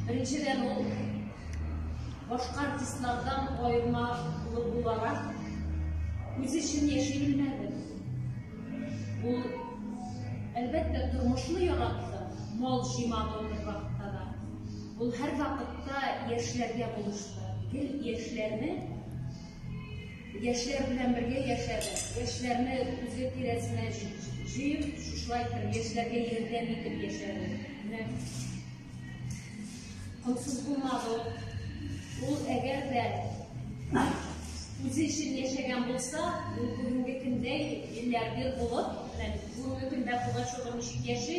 Беренчедән ул башка артистлардан аерма буларак үз өчен яши белмәде. Ул әлбәттә тормышны яратты, мал җыймады ул вакытта да. Ул һәр вакытта яшьләргә булышты. Гел яшьләрне Яшьләр белән бергә яшәде. Яшьләрне үзе тирәсенә җыеп, шушылай итеп яшьләргә ярдәм итеп яшәде. Менә комсыз булмады ул. Ул әгәр дә үзе өчен яшәгән булса, ул бүгенге көндә миллиардер булып, менә бүгенге көндә Пугачева ничек яши,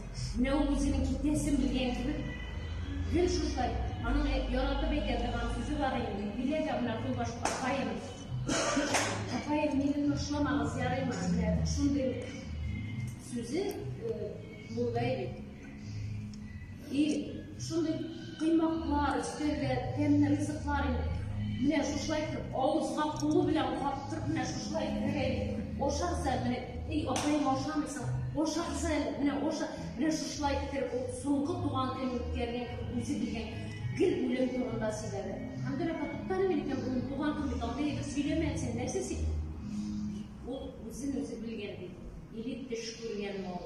Менә ул үзенең китәсен белгән кебек, гел шушай, аның яратып әйтә торган сүзе бар инде, бирә дә менә кулбаш апаем. Апаем, мине ташламагыз, ярыймы? Менә шундый сүзе булгай бит. И Шундый кыймаклар, өстәлгә тәмле ризыклар инде. Менә шушылай итеп, авызга кулы белән каптырып, менә шушылай итеп, ашарса, менә, эй, апаем ашамыйсың, ашарса, менә аша, менә шушылай итеп, ул соңгы туган көн үткәргән кебек, үзе белгән гел үлем турында сөйләде. Хәмдүр апа, туктале мин икән, ул туган көн бит, андый итеп сөйләмә, син нәрсә син? Ул үзен үзе белгән бит, или төш күргән мал.